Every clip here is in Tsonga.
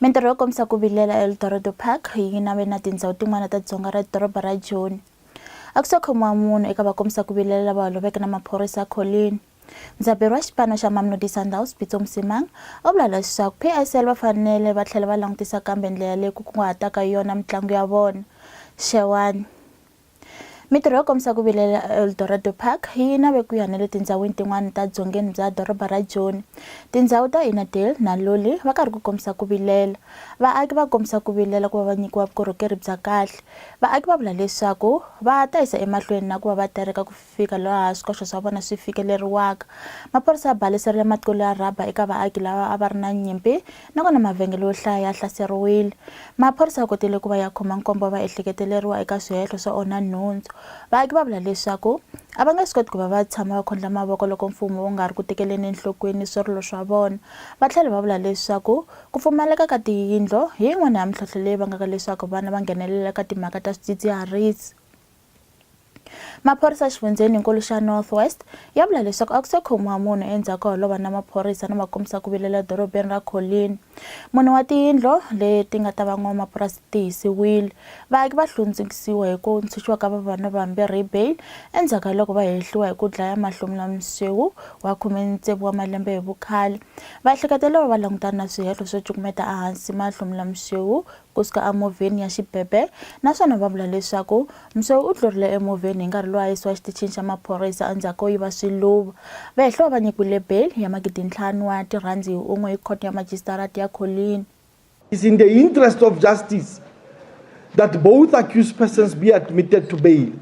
Mintirho yo kombisa ku vilela eEl Dorado Park yi nave na tindhawu tin'wana ta dzonga ra doroba ra Joni. A ku se khomiwa munhu eka vakombisa ku vilela lava holoveke na maphorisa ya kholini. Ndzaberi wa xipano xa Mamelodi Sundowns, Pitso Mosimang, u vula leswaku PSL va fanele va tlhela va langutisa kambe ndlela leyi ku kunguhataka yona mitlangu ya vona. Xewani. Mitirho yo kombisa ku vilela eEldorado Park yi nave ku ya na le tindzhawini tin'wana ta dzongeni bya doroba ra Joni. Tindzhawu ta Innerdale na Lully va karhi ku kombisa ku vilela. Vaaki va kombisa ku vilela ku va va nyikiwa vukorhokeri bya kahle. Vaaki va vula leswaku va ta yisa emahlweni na ku va va tereka ku fika laha swikoxo swa vona swi fikeleriwaka. Maphorisa ya baliserile matqulu ya rhaba eka vaaki lava a va ri na nyimpi nakona mavhengele yo hlaya ya hlaseriwile. Maphorisa ya kotile ku va ya khoma nkombo wa vaehleketeleriwa eka swihehlo swo onha nhundzu. Vaaki va vula leswaku a va nge swi koti ku va va tshama va khondla mavoko loko mfumo wu nga ri ku tekeleni enhlokweni swirilo swa vona. Va tlhele va vula leswaku ku pfumaleka ka tiyindlo hi yin'wana ya mintlhontlho leyi vangaka leswaku vana va nghenelela eka timhaka ta swidzidziharisi. maphorisa exifundzheni nkulu xa north west ya vula leswaku a ku se khomiwa munhu endzhaku ka holova na maphorisa na makombisa ku vilela edorobeni ra colin munhu wa tiyindlo leti nga ta va n'wamapurasi ti hisiwile vaaki va hlundzukisiwa hi ku ntshunxiwa ka vavanuna vambirhi hi bail endzhaku ka loko va hehliwa hi ku dlaya mahlomula msewu wa khume tsevu wa malembe hi vukhale vaehleketela va va langutana na swihehlo swo cukumeta ehansi mahlomula msewu ku suka emovheni ya xipepe naswona va vula leswaku Msoe u tlurile emovheni hi nkarhi lowu a yisiwa exitichini xa maphorisa endzhaku ko yiva swiluva. Vehlo va nyikiwile beyili ya magidi ntlhanu wa tirhandi hi un'we hi Khoto ya Majisitarata ya Colleen. It is in the interest of justice that both accused persons be admitted to bail.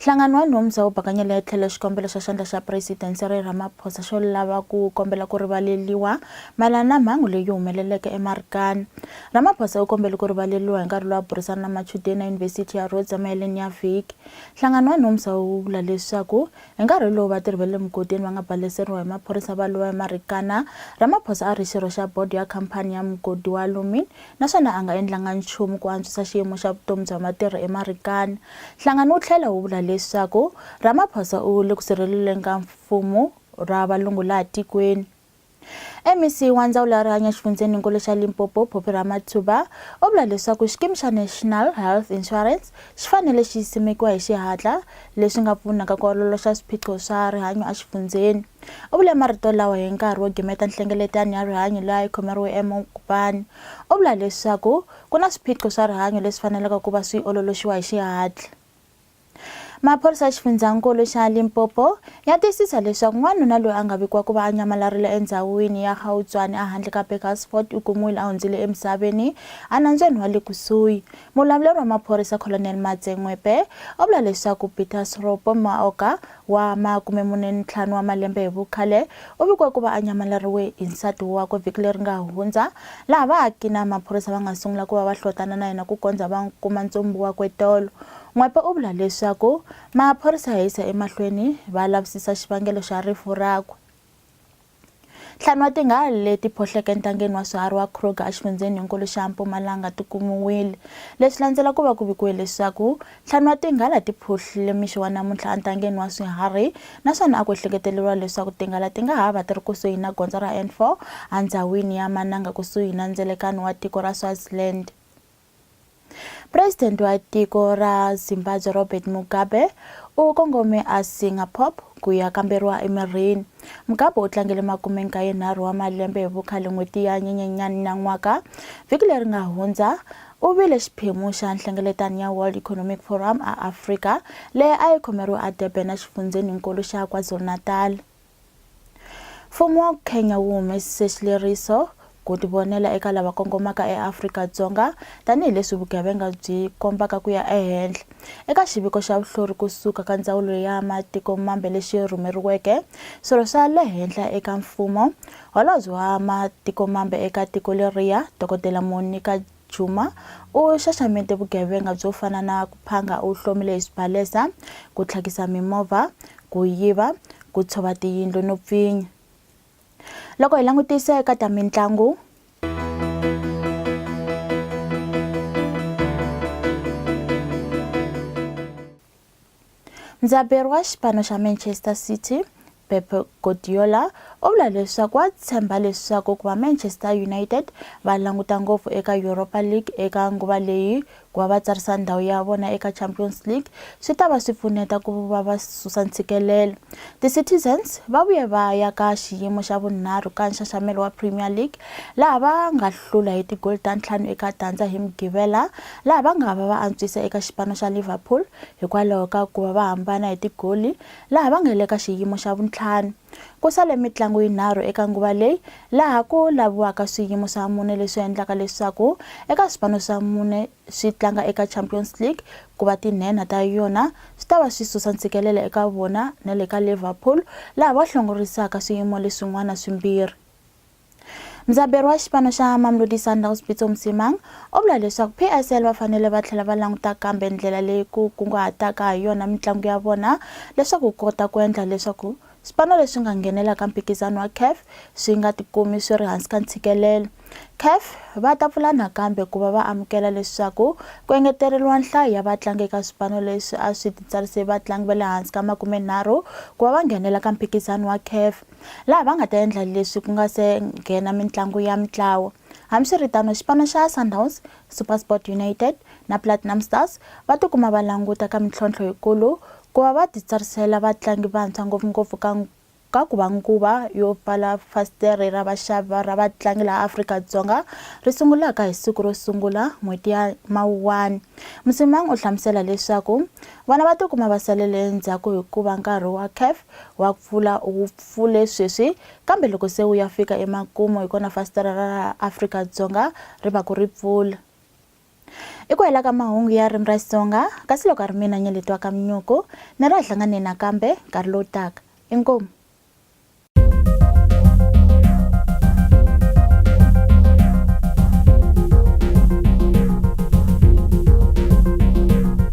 Nhlangano wa nhompfza wu bakanyele etlhelo xikombelo xa xandla xa President Cyril Ramaphosa xo lava ku kombela ku rivaleliwa mayelana na mhangu leyi humeleleke eMarikana. Ramaphosa u kombele ku rivaleliwa hi nkarhi lowu a burisana na machudeni eYunivhesiti ya Rhodes emaheleni ya vhiki. Nhlangano wa nhompfza wu vula leswaku hi nkarhi lowu vatirhi va le mugodini va nga baleseriwa hi maphorisa va lova eMarikana, Ramaphosa a ri xirho xa bodo ya khampani ya mugodi wa Lumin naswona a nga endlanga nchumu ku antswisa xiyimo xa vutomi bya matirhi eMarikana. Nhlangano wu tlhela wu vula leswaku Ramaphosa u le ku sirheleleni ka mfumo ra valungu laha tikweni. MEC wa Ndzawulo ya Rihanyo exifundzheninkulu xa Limpopo, Poppy Ramathuba, u vula leswaku xikimi xa National Health Insurance xi fanele xi simekiwa hi xihatla, leswi nga pfunaka ku ololoxa swiphiqo swa rihanyo exifundzheni. U vule marito lawa hi nkarhi wo gimeta nhlengeletano ya rihanyo leyi a yi khomeriwe eMokopane. U vula leswaku ku na swiphiqo swa rihanyo leswi faneleke ku va swi ololoxiwa hi xihatla. Maphorisa ya xifundzankulu xa Limpopo ya tiyisisa leswaku n'wanuna loyi a nga vikiwa ku va a nyamalarile endhawini ya Gautshwane ehandle ka Burgersfort u kumiwile a hundzile emisaveni enambyeni wa le kusuhi. Muvulavuleri wa maphorisa Colonel Matse Ngwepe u vula leswaku Peter Sropo Maoka wa makume mune ni ntlhanu wa malembe hi vukhale u vikiwe ku va a nyamaleriwe hi nsati wakwe vhiki leri nga hundza, laha vaaki na maphorisa va nga sungula ku va va hlotana na yena ku kondza va kuma ntsumbu wakwe tolo. N'wepe u vula leswaku maphorisa ya yisa emahlweni va lavisisa xivangelo xa rifu rakwe. Ntlhanu wa tinghali leti phoxeke entangeni wa swiharhi wa Kruger exifundzheni-nkulu xa Mpumalanga ti kumiwile. Leswi landzela ku va ku vikiwe leswaku ntlhanu wa tinghala ti phuhlile mixo wa namuntlha entangeni wa swiharhi naswona a ku ehleketeleriwa leswaku tinghala ti nga ha va ti ri kusuhi na gondzo ra N4 endhawini ya Mananga kusuhi na ndzelekano wa tiko ra Swaziland. President wa tiko ra Zimbabwe Robert Mugabe u kongome a Singapore ku ya kamberiwa emirini. Mugabe u tlangele makume nkaye nharhu wa malembe hi vukhale n'hweti ya Nyenyenyani na n'waka. Vhiki leri nga hundza u vile xiphemu xa nhlengeletano ya World Economic Forum a Afrika leyi a yi khomeriwe a Durban exifundzheni-nkulu xa KwaZulu-Natal. Mfumo wa Kenya wu humesise xileriso ku tivonela eka lava kongomaka eAfrika-Dzonga tanihi leswi vugevenga byi kombaka ku ya ehenhla. Eka xiviko xa vuhlori kusuka ka Ndzawulo ya Matiko Mambe lexi rhumeriweke swirho swa le henhla eka mfumo, Holobye wa Matiko Mambe eka tiko leriya, Dokodela Monica Juma u xaxamete vugevenga byo fana na ku phanga u hlomile hi swibalesa, ku tlhakisa mimovha, ku yiva, ku tshova tiyindlu no pfinya. Loko hi langutisa eka ta mitlangu, Ndzaberi wa xipano xa Manchester City, Pep Guardiola u vula leswaku wa tshemba leswaku ku va Manchester United va languta ngopfu eka Europa League eka nguva leyi ku va va tsarisa ndhawu ya vona eka Champions League swi ta va swi pfuneta ku va va susa ntshikelelo. Ti-Citizens va vuye va ya ka xiyimo xa vunharhu ka nxaxamelo wa Premier League laha va nga hlula hi tigoli ta ntlhanu eka tandza hi Mugqivela laha va nga va va antswise eka xipano xa Liverpool hikwalaho ka ku va va hambana hi tigoli laha va nga le ka xiyimo xa vuntlhanu. Ku sale mitlangu yinharhu eka nguva leyi laha ku laviwaka swiyimo swa mune leswi endlaka leswaku eka swipano swa mune swi tlanga eka Champions League ku va tinhenha ta yona swi ta va swi susa ntshikelelo eka vona na le ka Liverpool laha va hlongorisaka swiyimo leswin'wana swimbirhi. Mudzaberi wa xipano xa Mamelodi Sundowns Pitso Mosimang u vula leswaku PSL va fanele va tlhela va languta kambe ndlela leyi ku kunguhataka ha yona mitlangu ya vona leswaku kota ku endla leswaku swipano leswi nga nghenelaka mphikizano wa CAF swi nga tikumi swi ri hansi ka ntshikelelo. CAF va ta pfula nakambe ku va va amukela leswaku ku engeteriwa nhlayo ya vatlangi eka swipano leswi a swi titsarise vatlangi va le hansi ka makumenharhu ku va va nghenela ka mphikizano wa CAF. laha va nga ta endla leswi ku nga se nghena mitlangu ya mitlawa hambiswiritano xipano xa sundowns supersport united na platinum stars va tikuma va languta ka mintlhontlho yikulu ku va va titsarisela vatlangi vantshwa ngopfungopfu ka ka ku va nguva yo pfala fasitere ra vaxavi ra vatlangi laha afrika-dzonga ri sungulaka hi siku ro sungula n'hweti ya mawuwani musimang u hlamusela leswaku vana va tikuma va salele endzhaku hikuva nkarhi wa caf Wa pfula u wu pfule sweswi kambe loko se wu ya fika emakumu hi kona fasitara ra laha Afrika-Dzonga ri va ku ri pfula. I ku hela ka mahungu ya ririmi ra Xitsonga kasi loko a ri mina Nyeletiwa Kamnyuku ni ra hlanganeni nakambe nkarhi lowu taka. Inkomu.